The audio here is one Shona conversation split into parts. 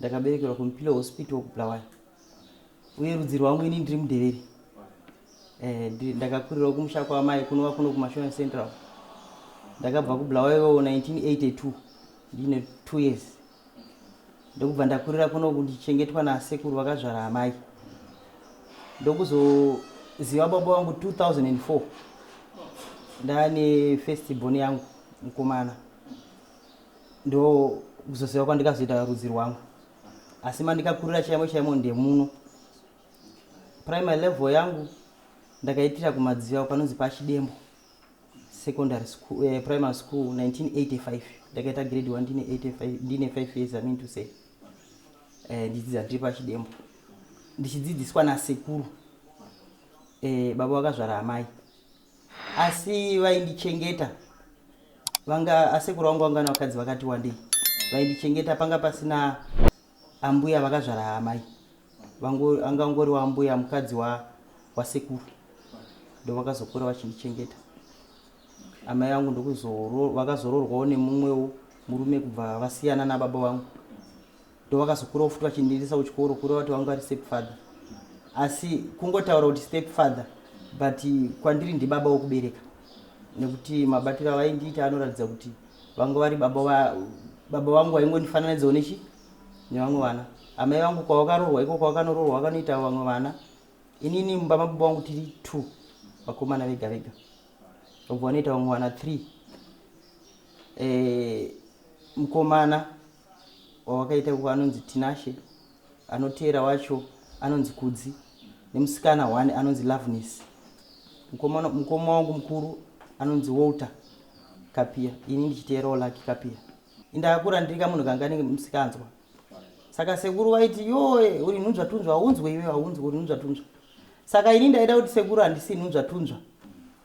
ndakaberekerwa kumpilo hospital kubulawayo uye rudzi rwangu ini ndiri mudeveri eh, ndakakurirawo kumusha kwamai kunova kuno kumashona central ndakabva kubulawayo 1982 ndiine two years ndokubva ndakurira kuno kundichengetwa nasekuru vakazvara amai ndokuzoziva baba vangu 2004 ndaane festibon yangu mukomana ndo kuzoziva kwandikazoita rudzi rwangu asi mandikakurira chaimo chaimo ndemuno primary level yangu ndakaitira kumadziva panonzi pachidembo secondary school, eh, primary school 1985 ndakaita grade 1 ndine 85 ndine 5 years i mean to say eh, ndidzidza ndiri pachidembo ndichidzidziswa nasekuru eh, baba vakazvara amai asi vaindichengeta vanga asekuru vangu vanga vakadzi vakati wandei vaindichengeta panga pasina ambuya vakazvara hamai anga ngori waambuya mukadzi wasekuru ndo vakazokura vachindichengeta amai vangu ndokuvakazororwawo nemumwewo murume kubva vasiyana nababa vangu ndovakazokura vofuti vachindiendesa kuchikoro kureva kuti vanga vari step father asi kungotaura kuti step father but kwandiri ndibaba wokubereka nekuti mabatiro avaindiita anoratidza kuti vanga vari baba va, baba vangu vaingondifananidzawo nechi nevamwe vana amai vangu kwavakarorwa iko kwavakanoroorwa vakanoita vamwe vana inini mumba mababa vangu tiri two vakomana vega vega vobva vanoita vamwe vana three e, eh, mukomana wavakaita kuko anonzi Tinashe, anoteera wacho anonzi Kudzi nemusikana one anonzi Loveness. Mukoma, mukoma wangu mukuru anonzi Walter Kapia, ini ndichiteerawo Lucky Kapia. Indakakura ndiri kamunhu kanga nenge musikanzwa. Saka sekuru vaiti yoe uri nhunzva tunzva haunzwe iwe haunzwe uri nhunzva tunzva. Saka ini ndaida kuti sekuru handisi nhunzva tunzva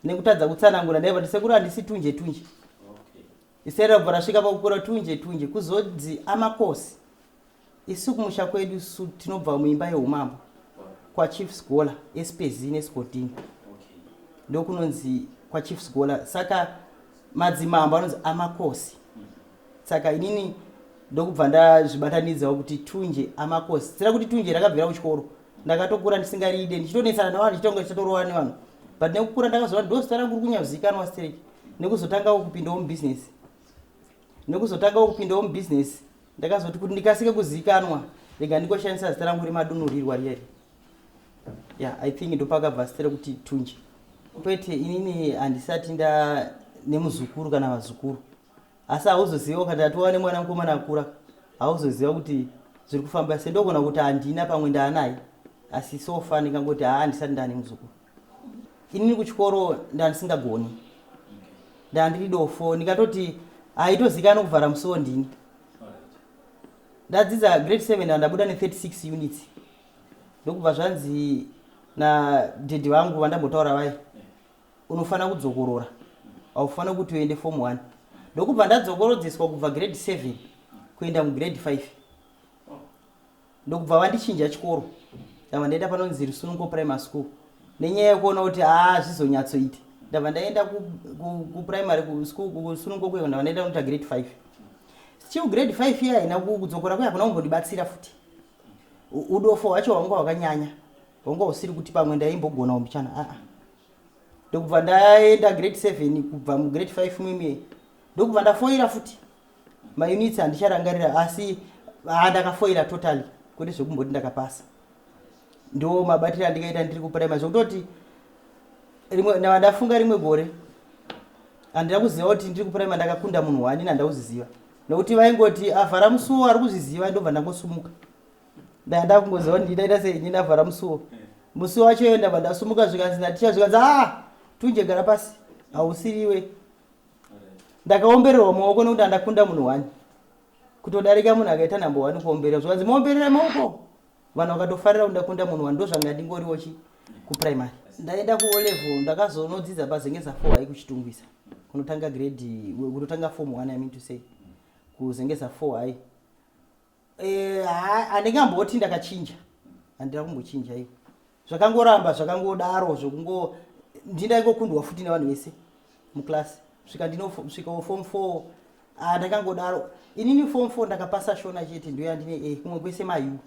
nekutadza kutsanangura ndaiva kuti sekuru handisi tunje tunje. Zita rabva rasvika pakukura tunje tunje kuzonzi amakosi. Isu kumusha kwedu su tinobva muimba yeumambo kwachief sgola espezini esgodini ndokunonzi kwachief sgola saka madzimambo anonzi amakosi saka inini ndokubva ndazvibatanidzawo kuti tunje amakosi sira kuti tunje rakabvira kuchikoro ndakatokura ndisingaride ndichitonetsana nevanhu ndichitonga ndichitorova nevanhu but nekukura ndakazoa ndosita rangu riri kunyazikanwa straight nekuzotangawo kupindawo mubhizinesi nekuzotangawo kupindawo mubhizinesi ndakazoti kuti ndikasike kuzivikanwa rega ndikoshandisa zita rangu remadunhurirwa riyeri ya i think ndopakabva zita rekuti tunje kwete inini handisati nda nemuzukuru kana vazukuru asi hauzoziva ukati atova nemwana mukomana akura hauzoziva kuti zviri kufamba se ndogona kuti handina pamwe ndaanaye asi sofa ndingangoti haa handisati ndane muzukuru inini kuchikoro ndandisingagoni ndandiri dofo ndikatoti haitozikana kuvhara musiwo ndini ndadzidza grade 7 ndandabuda ne36 units ndokubva zvanzi nadhedhi vangu vandambotaura vaye unofanira kudzokorora haufanira kuti uende form 1 ndokubva ndatsokorodzeswa kubva grade 7 kuenda mugrade 5 ndokubva vandichinja chikoro ndava ndaenda panonzi rusunungo primary school nenyaya yekuona kuti haa zvizonyatsoita ndava ndaenda kuprimary ku, ku school kusunungo kuyo ndava ndaenda kunoita grade five still grade five iya haina kudzokora kuya kuna kumbondibatsira futi udofo hwacho hwanga hwakanyanya hwanga husiri kuti pamwe ndaimbogona umbichana aa ah, ah. ndokubva ndaenda grade seven kubva mugrade five mimie ndokubva ndafoira futi maunits handicharangarira asi ah, ndakafoira totally kwete zvekumboti ndakapasa ndo mabatiro andikaita ndiri kuprimary zvekutoti ndafunga rimwe gore handina kuziva kuti ndiri kuprimary ndakakunda munhu wani nanda kuziziva nokuti vaingoti avhara ah, musuwo ari kuzviziva ndobva ndangosumuka ndaenda kungoziva kuti nditaita sei ini ndavhara musuwo musuwo wacho iyo ndabva ndasumuka zvikanzi naticha zvikanzi a ah, tunje gara pasi hausiriwe ndakaombererwa maoko nekuti andakunda munhu wani kutodarika munhu akaita number one kuomberera zvikanzi maomberera maoko vanhu vakatofarira kuti ndakunda munhu wani ndozvanga ndingoriwo chi kuprimary ndaenda kuolevel ndakazonodzidza pazenge zafo hai kuchitungwisa kunotanga grade kunotanga form one i mean to say kuzenge zafo hai Eh, handinga mboti ndakachinja handina kumbochinja iyo zvakangoramba zvakangodaro zvokungo ndindaingokundwa futi nevanhu vese muclass svika ndinosvikawo form four ah, ndakangodaro inini form four ndakapasa shona chete ndoyandine e eh, kumwe kwese mayu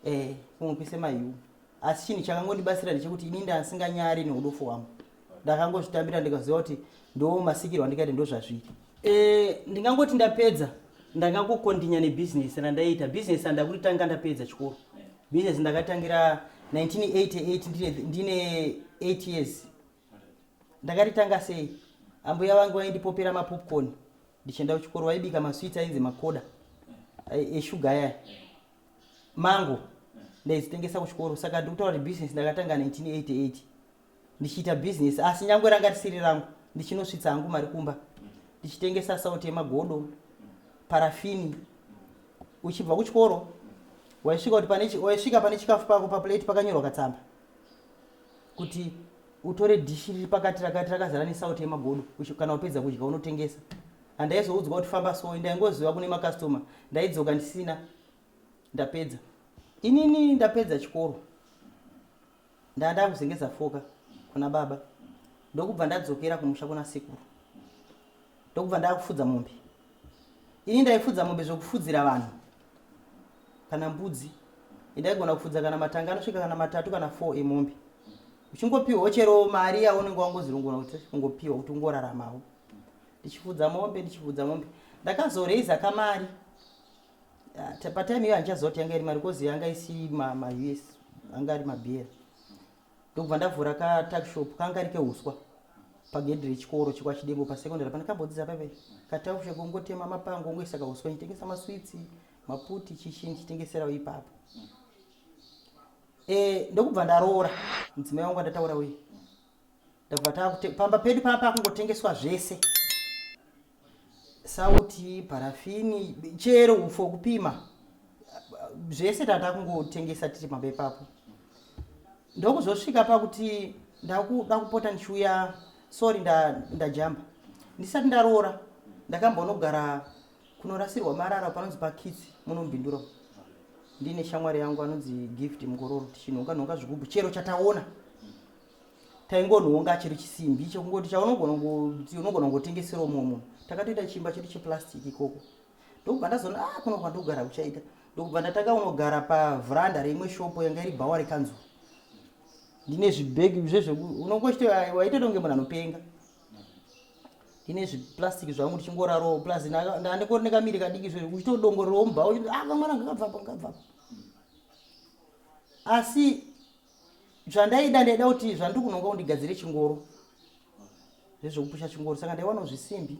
e eh, kumwe kwese mayu asi chinhu chakangondibatsira ndechekuti ini ndasinganyari neudofo hwangu ndakangozvitambira ndikaziva kuti ndo masikirwo andikaita ndo zvazviri e, ndingangoti ndapedza ndangangokondinya nebhizinesi randaiita bhizinesi randakuritanga ndapedza chikoro bhizinesi ndakatangira 1988 ndine 8 years ndakaritanga sei ambuya vangu vaindipopera mapopcorn ndichienda kuchikoro vaibika masweets ainzi makoda eshuga eh, eh, aya mango ndaizitengesa kuchikoro saka ndiri kutaura kuti business ndakatanga 1988 ndichiita business asi nyangwe ranga risiri rangu ndichinosvitsa hangu mari kumba ndichitengesa sauti yemagodo parafini uchibva kuchikoro waisvika kuti waisvika pane chikafu pako paplate pakanyorwa katsamba kuti utore dhishi riri pakati rakati rakazara nesauti yemagodo kana wapedza kudya unotengesa handaizoudzwa kuti famba so ndaingoziva kune makastoma ndaidzoka ndisina ndapedza inini ndapedza chikoro ndanda kuzengeza foka kuna baba ndokubva ndadzokera kumusha kuna sekuru ndokubva ndakufudza mombe ini ndaifudza mombe zvokufudzira vanhu kana mbudzi ndaigona kufudza kana matanga anosvika kana matatu kana four emombe uchingopiwawo chero mari yaunenge wangozirungura kuti ungopiwa kuti ungoraramawo ndichifudza mombe ndichifudza mombe ndakazoreiza kamari ah, patime iyo handichaziva kuti yanga iri mari kozi yanga isi maus anga ari mabhera ndokubva ndavhura ka tuckshop kanga kari kehuswa pagedhi rechikoro chekwachidembo pasecondary pane kambodzidza paive katuckshop ongotema mapango ongoisa kahuswa ndichitengesa maswitsi maputi chichi ndichitengeserawo ipapo e, ndokubva ndaroora mudzimai wangu andataura uye ndakubva pamba pedu paa pakungotengeswa zvese sauti parafini chero upfu hwekupima zvese tata kungotengesa tiri pamba ipapo ndokuzosvika pakuti ndakuda kupota ndichiuya sorry nda- ndajamba ndisati ndaroora ndakambonogara kunorasirwa marara panonzi pakitsi munombindura umu. ndiine shamwari yangu anonzi gift mukororo tichinhonga nhonga zvigubhu chero chataona taingonhonga chiri chisimbi chekungoti chaunogona unogona kungotengesera umwe munhu takatoita chimba chedu cheplastic ikoko ndokubva ndazoona a ah, kuno kwandogara kuchaita ndokubva ndatanga unogara pavhuranda reimwe shopo yanga iri bhawa rekanzuru ndine zvibhegi zvezveku unongochito waitoita kunge munhu anopenga ndine zviplastic zvangu ndichingoraro plus ndandikori nekamiri kadiki zve uchitodongorerwa mubhawa uchiti ah kamwana ngakabvapa ngakabvapa asi zvandaida ndaida kuti zvandikunonga undigadzire chingoro zvezvekupusha chingoro saka ndaiwana zvisimbi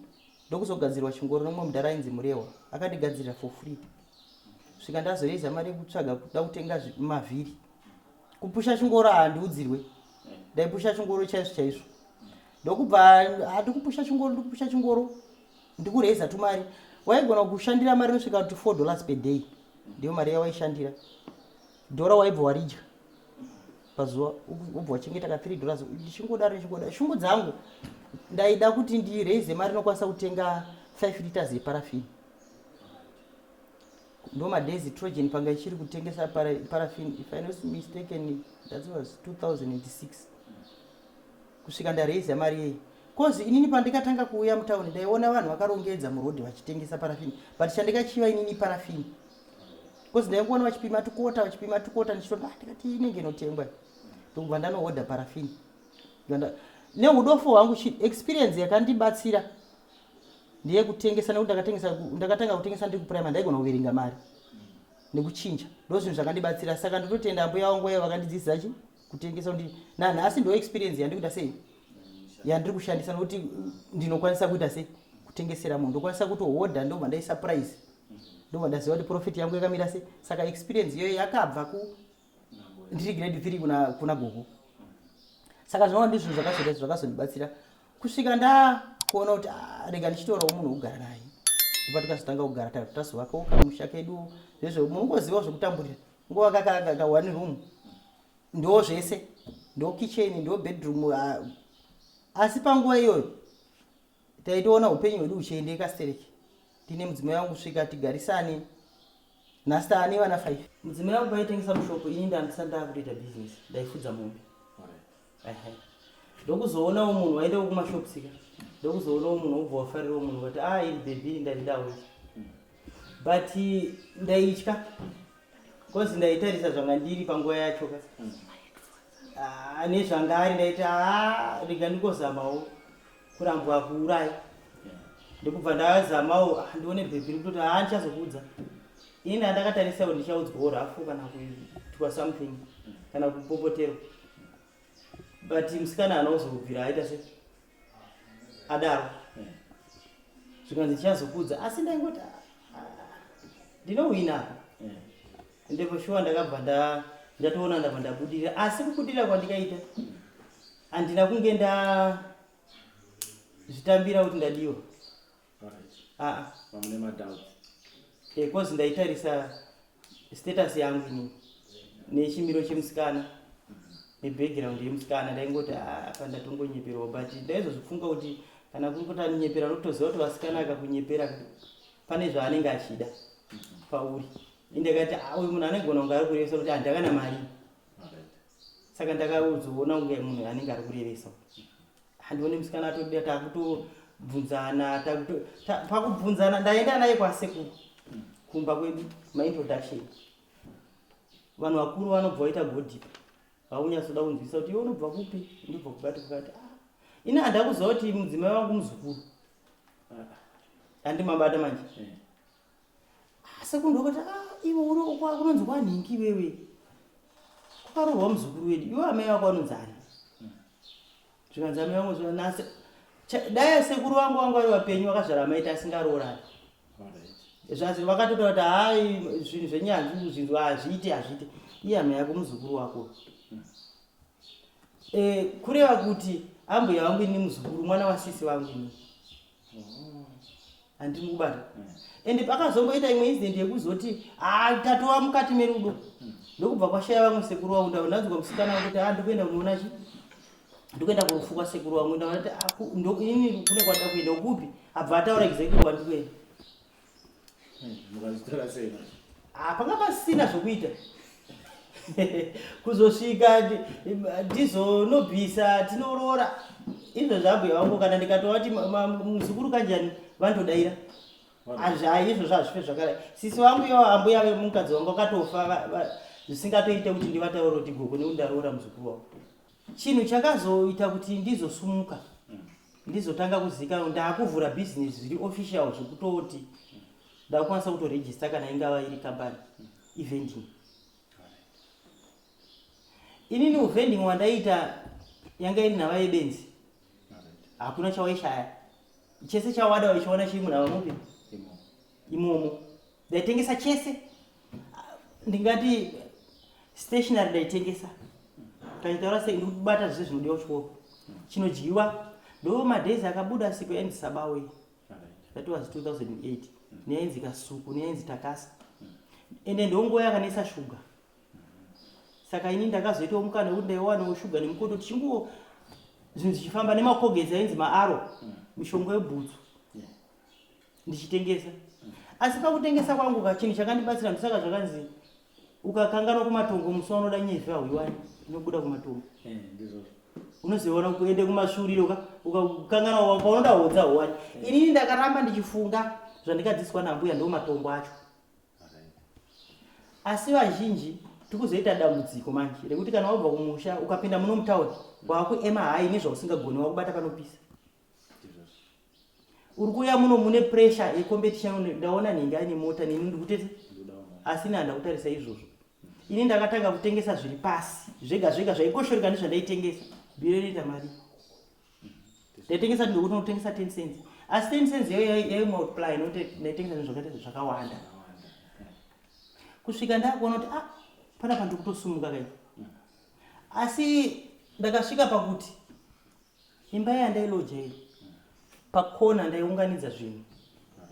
ndokuzogadzirwa chingoro nomumwe mudhara ainzi murehwa akandigadzirira for free svika ndazoreiza mari yekutsvaga kuda kutenga mavhiri kupusha chingoro handiudzirwe ndaipusha chingoro chaizvo chaizvo ndokubva handikupusha chingoro ndikupusha chingoro ndikureiza tumari waigona kushandira mari inosvika kuti four dollars per day ndiyo mari yawaishandira dhora waibva waridya pazuva ubva wachengeta ka three dollars ndichingodaro ndichingodaro shungu dzangu ndaida kuti ndiraize mari inokwanisa kutenga five liters yeparafini ndo madays trogen panga ichiri kutengesa parafini if i not mistaken that was 2006 kusvika ndaraiza mari yeyi bcause inini pandikatanga kuuya mutown ndaiona vanhu vakarongedza muroad vachitengesa parafini but chandikachiva inini parafini because ndaingoona vachipima tukota vachipima tukota ndichitoti ah, ndikati inenge inotengwa ndokubva ndanohodha parafini neudofo hwangu experience yakandibatsira ndeyekutengesa nekuti ndakatengesa ndakatanga kutengesa ndiri kuprimary ndaigona kuverenga mari nekuchinja ndozvinhu zvakandibatsira saka ndototenda ambuya wangu vaye vakandidzidzisa chi kutengesa kuti nanhasi ndo experience yandikuita sei yandiri kushandisa nokuti ndinokwanisa kuita sei kutengesera munhu ndokwanisa kutohodha ndobva ndaisa price ndobva ndaziva kuti profit yangu yakamira sei saka experience iyoyo yakabva ku ndiri grade three kuna, kuna gogo saka zvinova ndi zvinhu zvakazoita zvakazondibatsira kusvika ndakuona kuti ah, rega ndichitorawo munhu wekugara naye ndipo tikazotanga kugara tazovakawo kamusha kedu zvezvo munongozivawo zvekutamburira Nguva kaka kaka one room. Ndo zvese. Ndo kitchen, ndo bedroom. Uh, asi panguva iyoyo taitoona upenyu hwedu uchiendeka stereki. Tine mudzimai wangu svika tigarisane. Nasta ane vana 5. Mudzimai wangu aitengesa mushopo ini ndandisandava kutoita business. Ndaifudza mombe. ndokuzoonawo munhu waendawo kumashopsika ndokuzoonawo munhu wobva wafarirawo munhu wati a ah, iri bhebhi ndaidawo but ndaitya bcause ndaitarisa zvanga ndiri panguva yacho ka ah, nezvanga ari ndaiti a ah, rega ndikozamawo kurambwa kuuraya ndokubva ndazamawo ndione bhebhi rikutoti a ndichazokuudza ini andakatarisa kuti ndichaudzwawo rafu kana kuitwa something kana kupopoterwa but musikana anozobvira aita se adaro zvikanzi tichazokudza asi ndaingoti ah, ndinohwina apa ende for sure ndakabva nda ndatoona ndabva ndabudirira asi kubudirira kwandikaita handina kunge nda zvitambira kuti ndadiwa aa mamune madoubts because ndaitarisa status yangu inini nechimiro chemusikana nebackground yemusikana ndaingoti apa ndatongonyeperwa but ndaizozvifunga kuti kana kuri kuti anonyepera unotoziva kuti vasikana akakunyepera pane zvaanenge achida pauri indakati uyu munhu anogona kunge ari kurevesa kuti handakana mari saka ndakazoona kunge munhu anenge ari kurevesa handione musikana atoda takutobvunzana pakubvunzana ndaenda naye kwasekuru kumba kwedu maintroduction vanhu vakuru vanobva vaita godip vakunyatsoda kunzwisa kuti iwe unobva kupi ndobva kubati kukati ah, ini handakuzova kuti mudzimai wangu muzukuru ah, ah. handimabata manje eh. Ah, sekuru ndokati ah, iwe uri kwa- kunonzi kwanhingi iwewe kwakaroorwa muzukuru wedu iwe amai vako anonzi ani zvikanzi amai vangu zvikanzi nase Cha- dai sekuru vangu vangu vari vapenyu vakazvara amaita asingaroorani zvazi vakatotaura kuti hayi zvinhu zvenyanzvi zvinhu hazviite hazviite iye amai yako muzukuru wako Eh, kureva kuti ambuya vangu ini muzukuru mwana wasisi vangu ini handiri kubata ende pakazongoita imwe incident yekuzoti ah, tatova mukati merudo ndokubva kwashaya vamwe sekuru vangu ndava ndanzwa musikana kuti a ah, ndikuenda kunoona chi ndikuenda kurufu kwasekuru vangu ndavati ah, ini kune kwada kuenda kupi abva ataura exactly kwandikuenda mukazvitora sei manje Ah, panga pasina zvokuita kuzosvika ndi- ndizonobvisa tinoroora izvo zvabhuya vangu kana ndikatova ti ma- ma- muzukuru kanjani vandodaira azvai izvo zvazvife zvakadai sisi vangu yo ambuya vemukadzi wangu akatofa va- va- zvisingatoite kuti ndivataure kuti gogo nekuti ndaroora muzukuru wangu chinhu chakazoita kuti ndizosumuka ndizotanga kuzivikanwa ndaakuvhura business zviri official zvekutoti ndakukwanisa kutoregister kana ingava iri company evending inini uvending wandaiita yanga iri nhava yebenzi hakuna chawaishaya chese chawada waichiona chiri munhava mupi imomo ndaitengesa chese ndingati stationary ndaitengesa taitaura sei ndikubata zvese zvinodiwa kuchikoro chinodyiwa ndo madays akabuda siku yainzi sabauye that was 2008 neyainzi kasuku neyainzi takasa ende ndonguva yakanetsa shuga saka ini ndakazoitawo mukana wekuti ndaiwanawo shuga nemukoto tichinguwo zvinhu zvichifamba nemakogezi ainzi maaro mishonga yebhutsu ndichitengesa asi pakutengesa kwangu ka chinhu chakandibatsira ndosaka zvakanzi ukakanganwa kumatongo musi waunoda nyezvi hauiwani inobuda kumatongo Eh, ndizvozvo unozoona kuende kumasvuriro ka ukakanganwa wa- paunoda hodza hauwani inini ndakaramba ndichifunga zvandikadzidziswa nambuya ndo matongo acho Alright. asi vazhinji tikuzoita dambudziko manje rekuti kana wabva kumusha ukapinda muno mutauni wakuema hayi nezvausingagoni wakubata panopisa uri kuuya muno mune pressure yecompetition ndaona nhingi aine mota neni ndikutete asi ini handa kutarisa izvozvo ini ndakatanga kutengesa zviri pasi zvega zvega zvaikoshoreka nezvandaitengesa biro inoita mari ndaitengesa ndikuti ndinotengesa ten cents asi ten cents iyo yaimultiply nokuti ndaitengesa nezvakaita zvakawanda kusvika ndakuona kuti ah panapa ndikutosumuka kai asi ndakasvika pakuti imba yandailoja iyo pakona ndaiunganidza zvinhu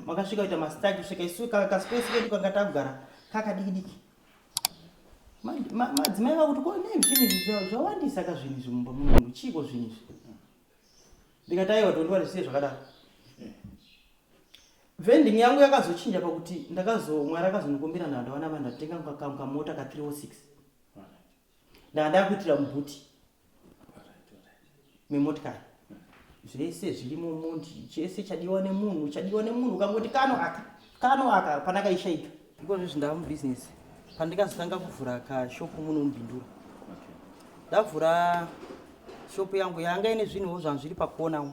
makasvika kuita mastaki svika isu kaspesi kedu kanga tagara kakadikidiki madzimai vakuti ko nei zvinhu izvi zvawandisa ka zvinhu izvi mumba mumunhu chiiko zvinhu izvi ndikati aiwa tondiwa zvisiye zvakadaro vending yangu yakazochinja pakuti ndakazomwari akazonikombira nhandawana vanhu ndatenga kamota ka 306 ndanga ndakuitira mubhuti memotikari zvese zvirimo mundi chese chadiwa nemunhu chadiwa nemunhu ukangoti kano aka kano aka pandakaishaika ikozvo zvindava mubusiness pandikazotanga kuvhura kashopu muno mubindura ndavhura shopu yangu yanga ine zvinhuwo zvanhu zviri pakona mhm.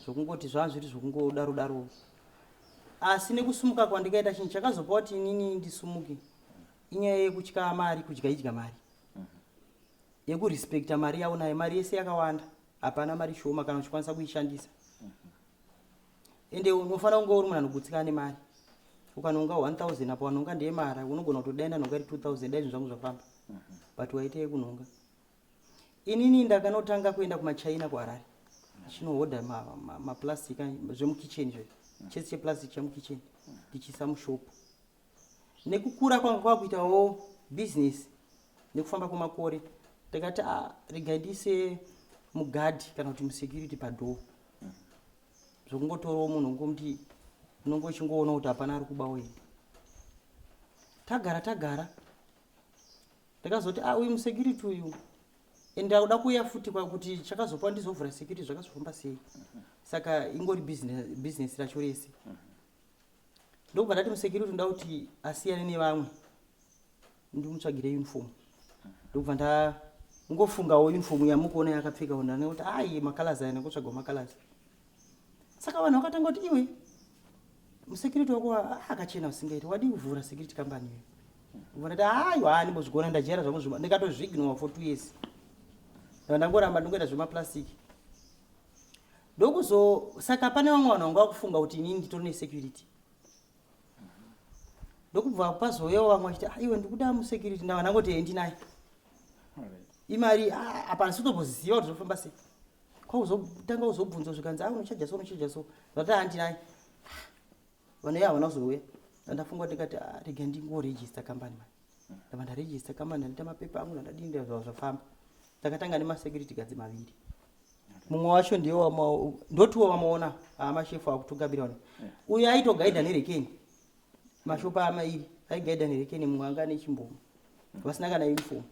zvokungoti zvanhu zviri zvokungodaro daro asi nekusumuka kwandikaita chinhu chakazopa kuti inini ndisumuke inyaya yekutya mari kudya idya mari mhm. yekurespecta mari yavo nayo mari yese yakawanda hapana mari shoma kana uchikwanisa kuishandisa mhm. ende unofanira kunge uri munhu anogutsikana nemari ukanonga 1000 apo wanonga ndeye mara unogona kutodaina nhonga iri 2000 dai zvinhu zvangu zvafamba mhm. but waita yekunhonga inini ndakanotanga kuenda kumachina kuharare chinohodha maplastic ma, ma, zvemukitchen izvo chese cheplastic chemukitchen ndichiisa mushopu nekukura kwanga kwakuitawo business nekufamba kwemakore takati ah, regai ndiise mugadhi kana kuti musecurity padhoo zvokungotorawo munhu ungomuti unonge uchingoona kuti hapana ari kuba uye tagara tagara ndakazoti a ah, uyu musecurity uyu and ndakuda kuuya futi kwakuti chakazopa ndizovhura security zvakazofamba sei saka ingori business racho rese ndokubva ndati musekiriti ndoda kuti asiyane nevamwe ndimutsvagire uniform ndokubva nda ngofungawo uniform yamukuona yakapfeka ona nekuti ayi makalaz aya nekutsvaga makalaz saka vanhu vakatanga kuti iwe musecurity wako ah, akachena usingaiti wadii kuvhura security company iyo ndikubva ndati ayo haa ndimbozvigona ndajera zvangu zvima ndikatozvignowa for two years ndava ndangoramba ndingoita zvemaplastic ndokuzo saka pane vamwe vanhu vanga vakufunga kuti inini nditori nesecurity ndokubva pazouyawo vamwe vachiti ah, iwe ndikuda musecurity ndava ndangoti endi naye imari ah, apa ndisitoboziva kuti zvofamba sei kwauzotanga kuzobvunzwa zvikanzi a ah, unochaja so unochaja so zvati handi naye vanoye havana kuzouya andafunga kuti ndikati rega ndingoregista kambani mani ndava ndaregista kambani andiita mapepa angu ndandadini zvava zvafamba takatanga nemasecurity gadzi maviri mumwe wacho ndiye ndotiwo vamaona amashefu akutogabira ona eh. uyo aitogaidha nerekeni mashopa amairi aigaidha nerekeni mumwe anga ane chimbomo vasina kana uniform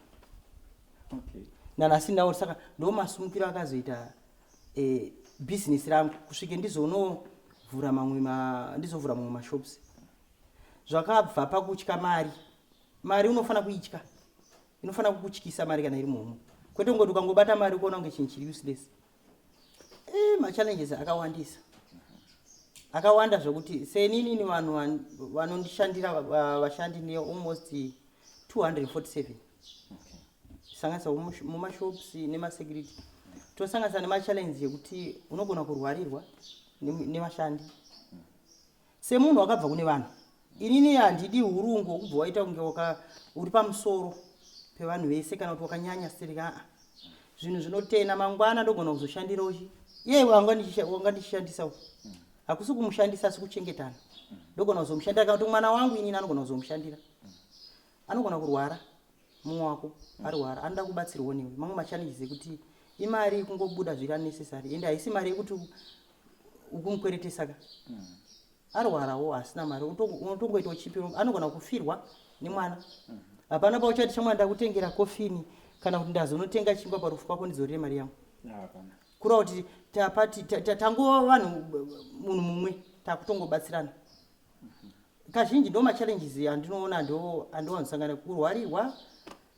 nanasi nawo saka ndomasumukiro akazoita eh, business rangu kusvike ndizonovhura mamwe ndizovhura mamwe mashops zvakabva pakutya mari mari unofanira kuitya inofanira kukutyisa mari kana iri muhomwe kwete kungoti ukangobata mari ukuona kunge chinhu chiri useless e, eh, machallenges akawandisa akawanda zvokuti seninini vanhu vanondishandira vashandi ne almost 247 sanganisa mumashops nemasecurity tosanganisa nemachallenges yekuti unogona kurwarirwa nevashandi ne Semunhu wakabva kune vanhu, inini handidi hurungu hwokubva waita kunge waka uri pamusoro pevanhu vese kana kuti wakanyanya stereki aa zvinhu zvinotena mangwana ndogona kuzoshandira uchi iye wanga ndichisha- wanga ndichishandisa uyu hakusi kumushandisa asi kuchengetana ndogona kuzomushandira kana kuti mwana wangu inini anogona kuzomushandira anogona kurwara mumwe wako arwara anoda kubatsirwa newe mamwe machallenges ekuti imari ikungobuda zviri unnecessary ende haisi mari yekuti ukumukweretesa ka mm. arwarawo hasina mari unotongoita uchipiro anogona kufirwa nemwana mm. hapana pauchati chamwana ndakutengera kofini kana kuti ndazonotenga chingwa parufu kwako ndizorire mari yangu kura kuti tapati tangova vanhu munhu mumwe takutongobatsirana kazhinji ndo machallenges andinoona andiwanzosangana kurwarirwa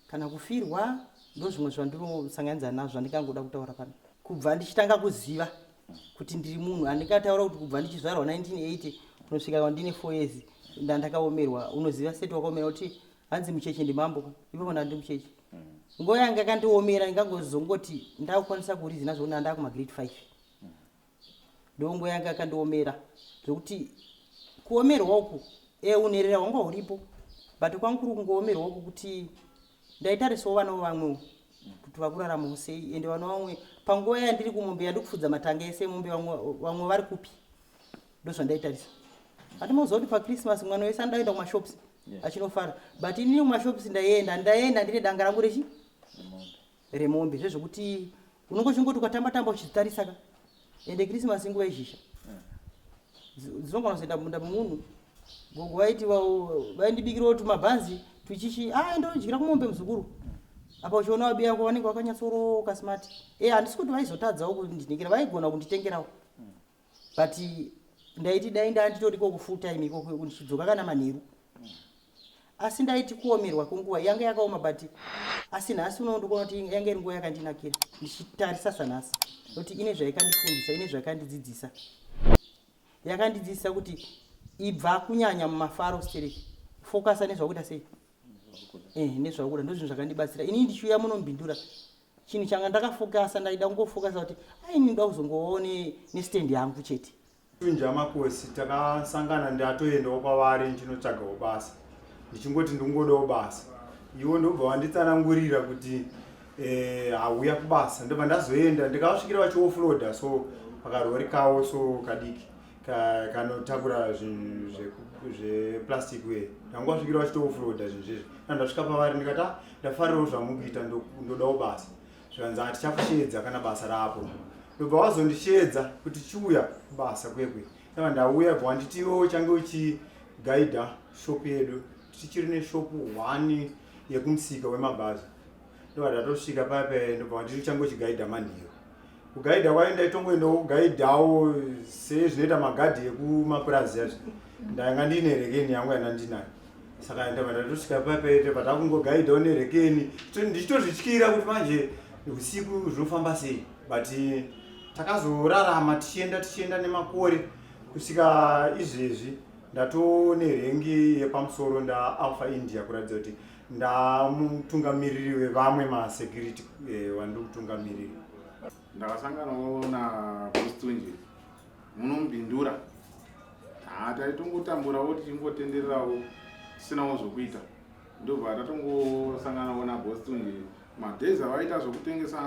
kana kufirwa ndo zvimwe zvandinosanganiza nazvo andingangoda kutaura pano kubva ndichitanga kuziva kuti ndiri munhu andingataura kuti kubva ndichizvarwa 1980 kunosvika kwandine four years ndandakaomerwa unoziva seti wakaomera kuti hanzi mucheche ndimambo ipapo ndandi mucheche nguva yanga kandiomera ingangozongoti ndakukwanisa kurizina zvokuti andava kumagreat five ndongo yanga yakandiomera zvekuti kuomerwa uku e eh, unherera hwanga huripo but kwangu kuri kungoomerwa uku kuti ndaitarisawo vana vevamwewo kuti vakuraramawo sei ende vana vamwe panguva yandiri kumombe yandikufudza matanga ese mombe vamwe vari kupi ndozvandaitarisa ati moziva kuti pachristmas mwana wese andaenda kumashops achinofara but inini kumashops ndaienda ndaienda ndine danga rangu rechi remombe zvezvekuti unongochingoti ukatamba tamba uchitarisa ka ende christmas inguva yezhizha dzinogona kuzoenda mumunda memunhu gogo vaiti vaindibikirawo tumabhanzi tuchichi a ah, ndodyira kumombe muzukuru apa uchiona wabi yako vanenge vakanyatsoroka smart e eh, handisi kuti vaizotadzawo kundinhikira vaigona kunditengerawo but ndaiti dai ndanditoriko kufull time ikoko ndichidzoka kana manheru asi ndaiti kuomerwa kwenguva yange yakaoma but asi nhasi unowo ndikuona kuti yange iri nguva yakandinakira ndichitarisa sanhasi kuti ine zvaikandifundisa ine zvaikandidzidzisa yakandidzidzisa kuti ibva kunyanya mumafaro stereki fokasa nezvakuita sei eh, nezvakuda ndozvinhu zvakandibatsira inii ndichiuya munombindura chinhu changa ndakafokasa ndaida kungofokasa kuti aini ndoda kuzongovawo nestand yangu chete tunja makosi takasangana ndatoendawo kwavari ndichinotsvagawo basa ndichingoti ndingodawo basa iwo ndobva vanditsanangurira kuti eh, hauya kubasa ndobva ndazoenda ndikavasvikira vachiofloda so pakarori kawo so kadiki kanotakura zvinhu zveplastic we ndanga wasvikira vachitoofroda zvinhu zvizvi kana ndasvika pavari ndikati ah, ndafarirawo zvamukuita ndodawo basa zvikanzi hatichakusheedza kana basa rapo ndobva wazondisheedza kuti chiuya kubasa kwekwe aa ndauya bva wanditiwo uchange uchigaidha shop yedu tichiri neshop one yekumusika wemabhazi ndobva ndatosvika pape ndobva wandiri changochigaidha manhiyo kugaidha kwayo ndaitongoendawo kugaidhawo sezvinoita magadhi ekumapurazi azvo ndanga ndiine rekeni yangu yana ndinayo saka ndobva ndatosvika pape ndobva takungogaidhawo nerekeni ndichitozvityira kuti manje usiku zvinofamba sei but takazorarama tichienda tichienda nemakore kusvika izvezvi ndatone rengi yepamusoro ndaalpha india kuratidza kuti ndamutungamiriri wevamwe masecurity eh, wandiri kutungamirira ndakasanganawo napostunje munombindura ha taitongotamburawo tichingotendererawo tisinawo zvokuita ndobva tatongosanganawo nabostunje madays avaita zvokutengesa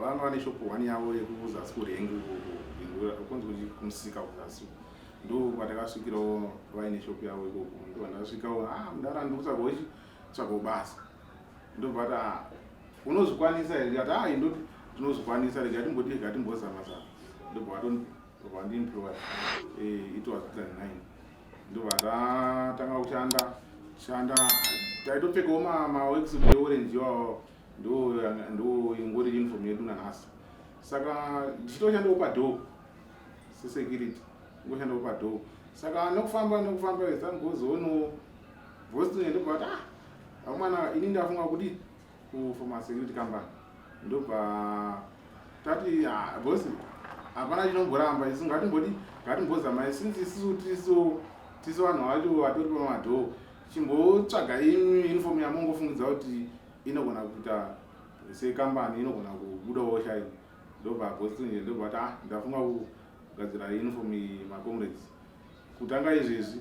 vanga vane shop one yavo yekuzasi kurengi kunzi kuti kumusika kuzasi ndokwatakasvikirawo vaine shop yavo ikoko ndovandakasvikawo a ah, mudara ndikutsvaga ichi tsvaga basa ndobvata ah, unozvikwanisa here ndikati ai ah, ndo tinozvikwanisa rega timboti rega timbozama zama ndobva vandimpiwa eh, it was 2009 ndobva ndatanga kushanda shanda taitopfekawo mawex eorange iwawo ndo ingori uniform yedu nanhasi saka ndichitoshandawo padhoo sesecurity ingoshandawo padhoo saka nokufamba nokufamba zangozoono vosine ndobva kuti ah amwana ini ndafunga kuti kufoma security company ndobva tati ah, bosi hapana chinomboramba isu ngatimboti ngatimbozamai since isisu tiso tiso vanhu vacho vatori pamadhoo chimbotsvaga imi uniform yamongofungidzao kuti inogona kuita sekambani inogona kubudawo chai ndobva goslinje ndobva kuti ah ndafunga kugadzira uniform macomrades kutanga izvezvi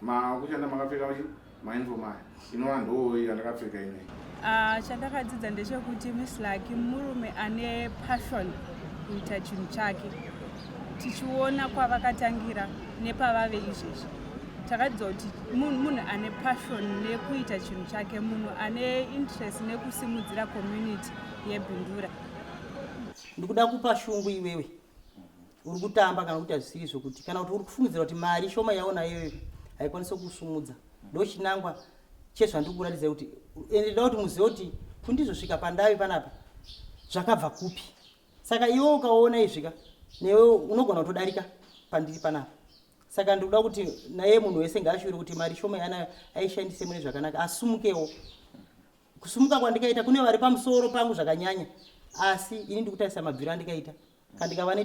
makushanda makapfeka vachi mainform aya inova ndoo yandakapfeka inei ah, chandakadzidza ndechekuti mislaki murume ane passion kuita chinhu chake tichiona kwavakatangira nepavave izvezvi takadzidza kuti munhu ane passion nekuita chinhu chake munhu ane interest nekusimudzira community yebindura ndikuda kupa shungu iwewe uri kutamba kana kuti hazvisiri izvo kuti kana kuti uri kufungidzira kuti mari shoma yaona iyoyo haikwanisi kusumudza ndo chinangwa chezvandiri kuratidza kuti ende ndoda kuti muzive kuti kundizosvika pandave panapa zvakabva kupi saka iwe ukaona izvi ka newe unogona kutodarika pandiri panapa saka ndikuda kuti naye munhu wese ngaashure kuti mari shoma yaanayo aishandise mune zvakanaka asumukewo kusumuka kwandikaita kune vari pamusoro pangu zvakanyanya asi ini ndikutarisa mabviro andikaita kandikava ne